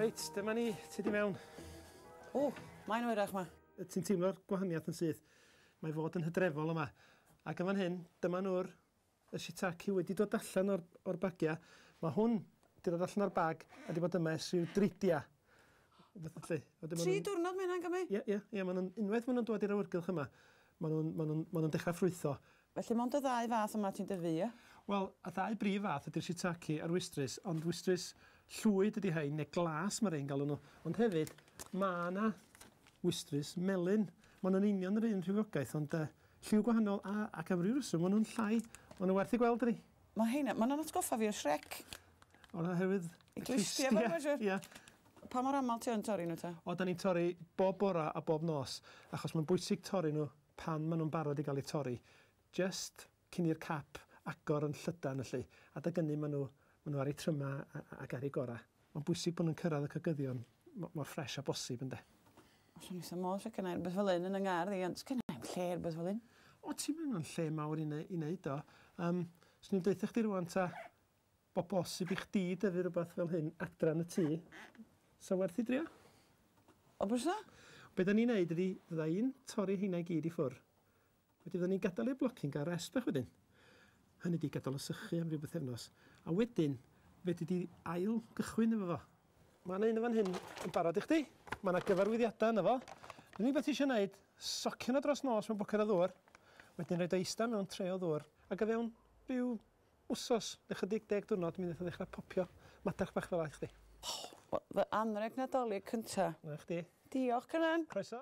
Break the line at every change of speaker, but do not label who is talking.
Reit, dyma ni, ti di mewn. O,
mae'n oerach ma. Ti'n teimlo'r gwahaniaeth
yn syth. Mae fod yn hydrefol yma. Ac yn fan hyn, dyma nhw'r Y shiitake wedi dod allan o'r o'r bagia. Ma hwn 'di dod allan o'r bag a 'di bod yma ers rhyw dridia. Fatha 'lly.
A 'dyn ma' nw'n... Tri diwrnod ma hynna'n gymyd? Ie ie ie ma nw'n
unwaith ma nw'n dŵad i'r awyrgylch yma ma nw'n ma nw'n ma nw'n dechra ffrwytho. Felly mond y ddau
fath yma ti'n dyfu ie? Wel y ddau brif
fath ydi'r shiitake a'r wistrys ond wistrys llwyd ydi rhein ne glas ma rei'n galw nhw ond hefyd ma 'na wistrys melyn. Ma nw'n union yr un rhywogaeth ond yy Lliw gwahanol a ac am ryw reswm ma nhw'n llai ma nhw werth i gweld dydi? Ma heina ma nhw'n atgoffa
fi o Shrek. O oherwydd
y clustiau fo ma
siwr. Ia. Pa
mor
amal ti yn torri nhw ta? O dan ni'n torri
bob bora a bob nos achos ma'n bwysig torri nhw pan ma nhw'n barod i gael eu torri jyst cyn i'r cap agor yn llydan felly adeg ynny ma nhw ma nhw ar eu tryma a a ac ar eu gora. Mae'n bwysig bod nhw'n cyrraedd y cogyddion mor ffres â bosib, ynde? Swn i'n syml,
sef gennau rhywbeth fel un yn y ngardd i, ond sef gennau i'm lle rhywbeth fel un. O, ti'n mynd o'n
lle mawr i wneud o. Um, swn i'n deutha chdi rwan ta, bod bosib i chdi dyfu rhywbeth fel hyn adran y tŷ. Sa werth i drio? O, bwys
na? Be da ni'n neud
ydi, fydda i'n torri heina i gyd i ffwr. Wedyn fyddan ni'n gadael i'r blocyn gael rest bach wedyn. Hynny ydi, gadael o sychu am ryw bythefnos. A wedyn, fedri di ail gychwyn efo fo. Mae yna un yn fan hyn yn barod i chdi. Mae yna gyfarwyddiadau yna fo. Yr unig beth ti eisiau gwneud, socian o dros nos mewn bwced o ddŵr, wedyn rhaid o eistedd mewn tre o ddŵr, ac o fewn rhyw wsos neu chydig deg diwrnod mi wnaeth o ddechrau popio madarch bach fel 'a i chdi.
Fy
anrheg Nadolig cynta. 'Na chdi.
Diolch
Cynan.
Croeso.